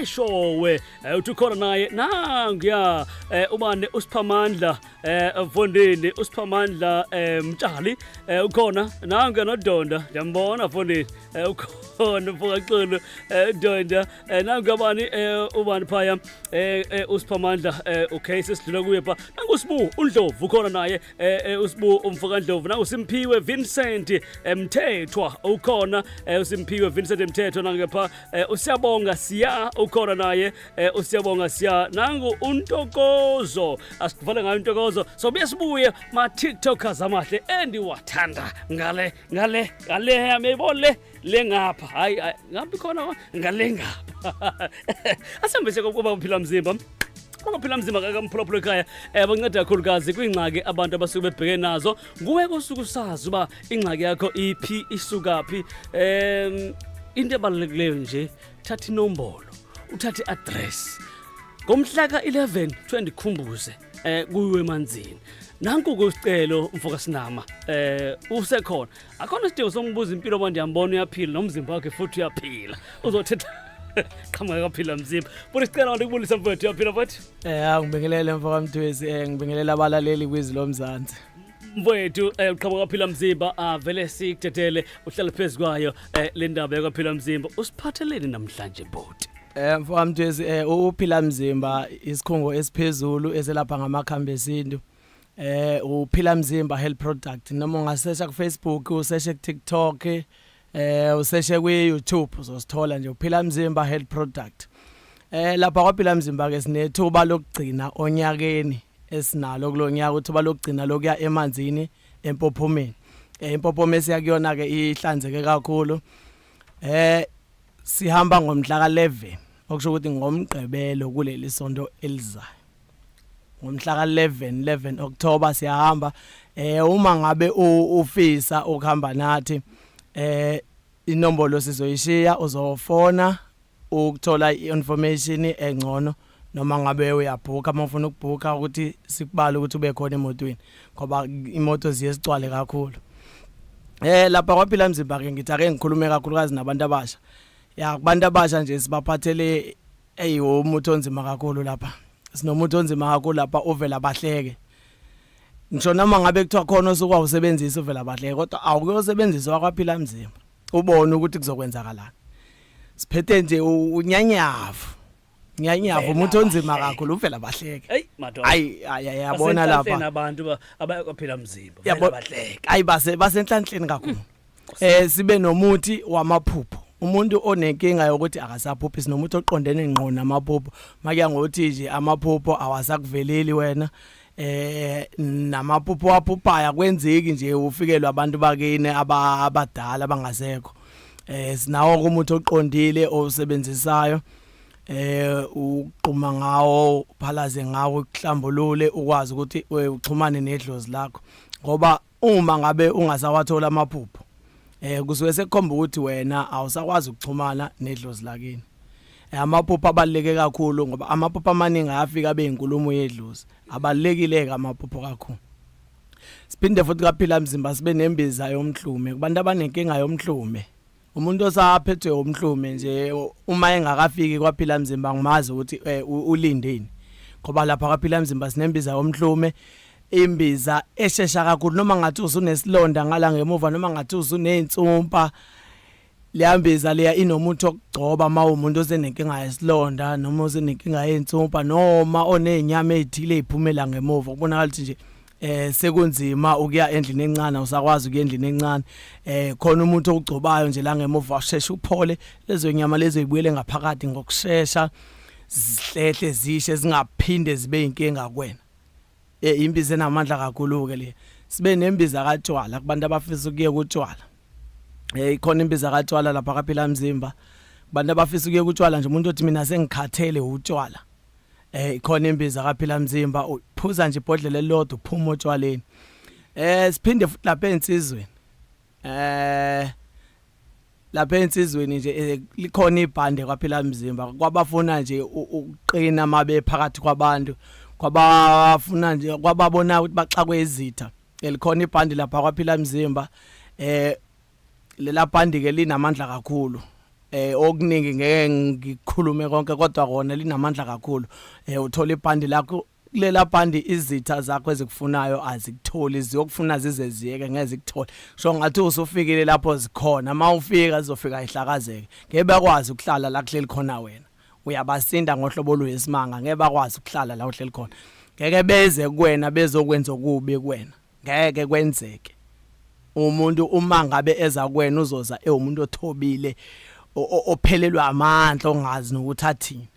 eshowe eh, uthi ukhona naye nanguya eh, ubane usiphamandla eh, mfondini usiphamandla mtshali ukhona nanguya nodonda ndiyambona mfondini ukhona mfokaxulu donda nanguya bani ubani phaya usiphamandla okay sesidlula kuye pha nangusibu undlovu ukhona naye eh, eh usibu umfokandlovu na usimphiwe Vincent eh, Mthethwa ukhona eh, usimphiwe Vincent Mthethwa nangepha eh, usiyabonga siya ukhona naye eh, usiyabonga siya nangu untokozo asivale ngayo intokozo so besibuye ma TikTokers amahle endiwathanda ngale ngale ngale amebole lengapha hayi hayi, ngabe khona wa- ngalengapha asihambise kokuba uphila mzimba uphila mzimba kakamphulaphula ekhaya um banceda kakhulukazi kwiingxaki abantu abasuke bebheke nazo nguwe kosuke usazi uba ingxaki yakho iphi isukaphi um into ebalulekileyo nje thatha inombolo uthathe i-address ngomhla ka-11 kuthiwa ndikhumbuze um kuyiwe emanzini nanku ke usicelo mfokasinama um usekhona Akhona isidingo songibuza impilo manje yambona uyaphila nomzimba wakhe futhi uyaphila. Uzothetha qhamuka kwaphila mzimba. Futhi sicela abantu kubulisa mfowethu uyaphila futhi. Eh hawu ngibingelele mfo kaMthwezi eh ngibingelela abalaleli kwizwi lomzansi. Mfowethu eh uqhamuka kwaphila mzimba avele sikudedele uhlale phezukwayo eh le ndaba yakwaphila mzimba usiphatheleni namhlanje bhuti. Eh mfo kaMthwezi eh uphila mzimba isikhungo esiphezulu eselapha ngamakhambi esintu. eh uphila mzimba health product noma ungasesha ku Facebook useshe ku TikTok eh useshe ku YouTube uzosithola nje uphila mzimba health product eh lapha kwaphila mzimba ke sinethuba lokugcina onyakeni esinalo kulonyaka uthuba lokugcina lokuya emanzini empophomeni eh impophome siyakuyona ke ihlanzeke kakhulu eh sihamba ngomhla ka 11 okusho ukuthi ngomgqibelo kuleli sonto elizayo ngomhla ka-11 11 October siyahamba eh uma ngabe ufisa ukuhamba nathi eh inombolo sizoyishiya uzofona ukuthola i-information engcono noma ngabe uyabhuka uma ufuna ukubhuka ukuthi sikubale ukuthi ube khona emotweni ngoba imoto ziye sicwale kakhulu eh lapha kwaphila mzimba ke ngithi ake ngikhulume kakhulukazi nabantu abasha ya kubantu abasha nje sibaphathele eyi umuthi onzima kakhulu lapha sinomuthi onzima kakhulu lapha uvela bahleke ngisho noma ngabe kuthiwa khona osuke awusebenzisa uvela bahleke kodwa awukuyosebenzisa wakwaphila mzimba ubone ukuthi kuzokwenzakalana siphethe nje unyanyavu nyanyavu umuthi onzima kakhulu uvela bahleke Hey, madoda. ayi ayi ayi, yabona Basenhlanhleni lapha abantu ba- abayakuphila mzimba Yabo- vele bahleke ayi base basenhlanhleni kakhulu eh sibe nomuthi wamaphupho umuntu onenkinga yokuthi akasaphuphi sinomuthi oqondene ngqo namaphupho makuya ngokuthi nje amaphupho awasakuveleli wena eh namaphupho waphuphayo kwenzeki nje ufikelwa abantu bakini abadala abangasekho eh sinawo umuthi oqondile osebenzisayo eh uqhuma ngawo phalaze ngawo kuhlambulule ukwazi ukuthi eh, uxhumane nedlozi lakho ngoba Uma ngabe ungasawathola amaphupho eh kusuke sekukhomba ukuthi wena awusakwazi ukuxhumana nedlozi lakini eh, amaphupho abaleke kakhulu ngoba amaphupho amaningi ayafika beyinkulumo yedlozi abalekile ke amaphupho kakhulu siphinde futhi kaphila mzimba sibe nembiza yomhlume kubantu abanenkinga yomhlume umuntu osaphethwe umhlume nje uma engakafiki kwaphila mzimba ngimazi ukuthi eh, u- ulindeni ngoba lapha kwaphila mzimba sinembiza yomhlume imbiza eshesha kakhulu noma ngathi usunesilonda ngala ngemuva noma ngathi usuney'nsumpa liyambiza leya inomuthi okugcoba uma umuntu osenenkinga yesilonda noma osenenkinga yey'nsumpa noma oney'nyama ey'thile ey'phumela ngemuva kubonakala ukuthi nje eh sekunzima ukuya endlini encane usakwazi ukuya endlini encane eh khona umuntu okugcobayo nje la ngemuva usheshe uphole lezo nyama lezo ibuyele ngaphakathi ngokusheshsha zihlehle zishe zingaphinde zibe inkinga kuwena eh imbiza enamandla kakhulu ke le sibe nembiza katshwala kubantu abafisa ukuye kutshwala eh ikhona imbiza katshwala lapha kaphila mzimba kubantu abafisa ukuye kutshwala nje umuntu othi mina sengikhathele utshwala Eh khona imbiza kaphila mzimba uphuza nje ibhodlela elilodwa uphuma otshwaleni. Eh siphinde futhi lapha ensizweni. Eh lapha ensizweni nje eh, likhona ibhande kwaphila mzimba kwabafuna nje u- ukuqina mabe phakathi kwabantu kwabafuna nje kwababona ukuthi baxakwe izitha elikhona ibhande lapha kwaphila mzimba eh lela bhandi ke linamandla kakhulu eh okuningi ngeke ngikhulume konke kodwa kona linamandla kakhulu eh uthola ibhandi lakho lela bhandi izitha zakho ezikufunayo azikutholi ziyokufuna zize ziyeke ngezikuthole so ngathi usufikile lapho zikhona uma ufika zizofika ihlakazeke ngeke bakwazi ukuhlala la kuhleli khona wena uyabasinda ngohlobo oluyisimanga ngeke bakwazi ukuhlala la uhleli khona ngeke beze kuwena bezokwenza okubi kuwena ngeke kwenzeke umuntu uma ngabe eza kwena uzoza ewumuntu othobile ophelelwa amandla ongazi nokuthi athini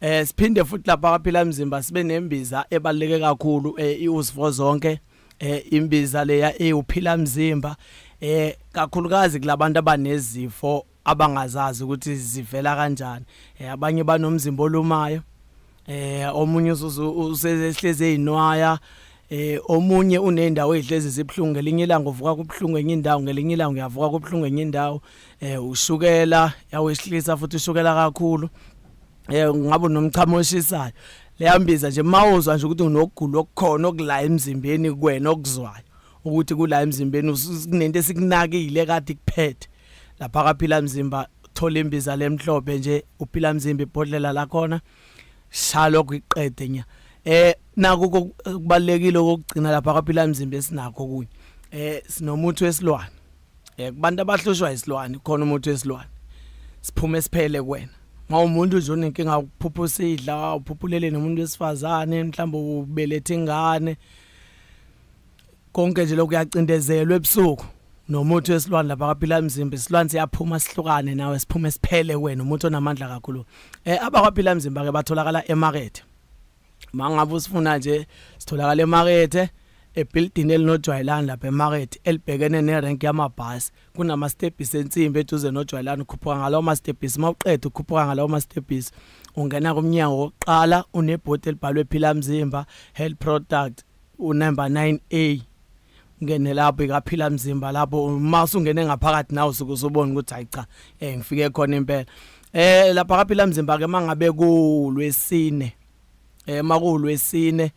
eh siphinde futhi lapha kwaphila mzimba sibe nembiza ebaleke kakhulu eh, iusivo zonke eh imbiza leya ewuphila mzimba eh kakhulukazi kulabantu abanezifo abangazazi ukuthi zivela kanjani eh, abanye banomzimba olumayo eh omunye usehleze ezinwaya eh omunye unendawo ezihlezi zibhlungu ngelinye ilanga uvuka kubhlungu enye indawo ngelinye ilanga uyavuka kubhlungu enye indawo eh ushukela yawehlisa futhi ushukela kakhulu eh ngabe nomchamo oshisayo leyambiza nje mawuzwa nje ukuthi unokugula okukhona okula emzimbeni kuwena okuzwayo ukuthi kula emzimbeni kunento esikunakile kade kuphethe lapha kaphila mzimba thola imbiza lemhlophe nje uphila mzimba ibhodlela lakhona shalo kwiqede nya eh naku kubalekile ukugcina lapha kaphila mzimba esinakho kunye eh sinomuntu wesilwane eh kubantu abahlushwa isilwane khona umuntu wesilwane siphume siphele kuwena mawumuntu nje onenkinga ukuphupha usidla uphuphulele nomuntu wesifazane mhlawumbe ubelethe ingane konke nje lokuyacindezelwa ebusuku nomuthi wesilwane lapha kwaphila emzimba isilwane siyaphuma sihlukane nawe siphume siphele wena umuntu onamandla kakhulu eh abakwaphila emzimba ke batholakala emarket mangabe usifuna nje sitholakala emarket ebuilding elinojwayelani lapha emarket elibhekene nerank yamabhasi kunama stepisi ensimbi eduze nojwayelani ukhuphuka ngalawo ma stepisi mawuqeda ukhuphuka ngalawo ma stepisi ungena kumnyango wokuqala unebhodi elibhalwe phila mzimba health product unumber 9A ngene lapho ikaphila mzimba lapho uma usungene ngaphakathi nawe usuke usubona ukuthi hayi cha eh ngifike khona impela eh lapha kaphila mzimba ke mangabe kulwesine eh makulwesine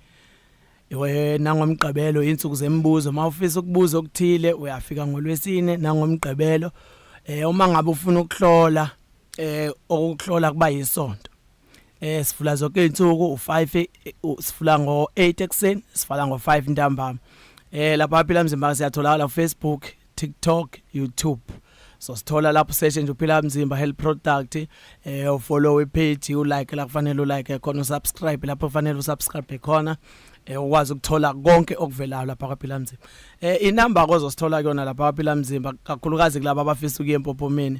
wena ngomgqibelo insuku zemibuzo mawufisa ukubuza okuthile uyafika ngolwesine nangomgqibelo eh uma ngabe ufuna ukuhlola eh okuhlola kuba yisonto eh sivula zonke izinsuku u5 sivula ngo 8 ekseni sivala ngo 5 ntambama eh lapha phila mzimba siyatholakala ku Facebook TikTok YouTube so sithola lapho session nje uphila mzimba health product eh ufollow ipage ulike la kufanele ulike khona usubscribe lapho kufanele usubscribe khona eh ukwazi ukuthola konke okuvelayo lapha kwaphila mzimba eh inamba kozosithola kuyona lapha kwaphila mzimba kakhulukazi kulabo abafisa ukuye empophomeni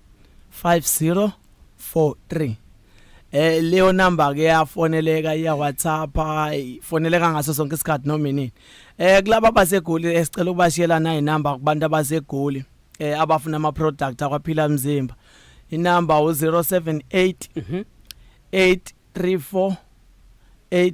5043 eh leyo number ke yafoneleka iya WhatsApp ifoneleka ngaso sonke isikhathi noma inini eh kulaba basegoli esicela ukubashiyela nayi inamba kubantu abasegoli eh abafuna ama product akwaphila mzimba inamba u 078 834 8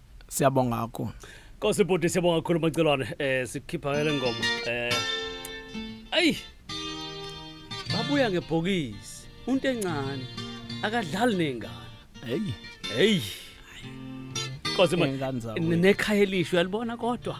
siyabonga kakhulu Nkosi bhuti siyabonga kakhulu Macelwane eh sikhipha ke lengoma eh ayi babuya ngebhokisi unto encane akadlali nengane heyi hey Nkosi ma ingane zakwethu. nekhaya elisho uyalibona kodwa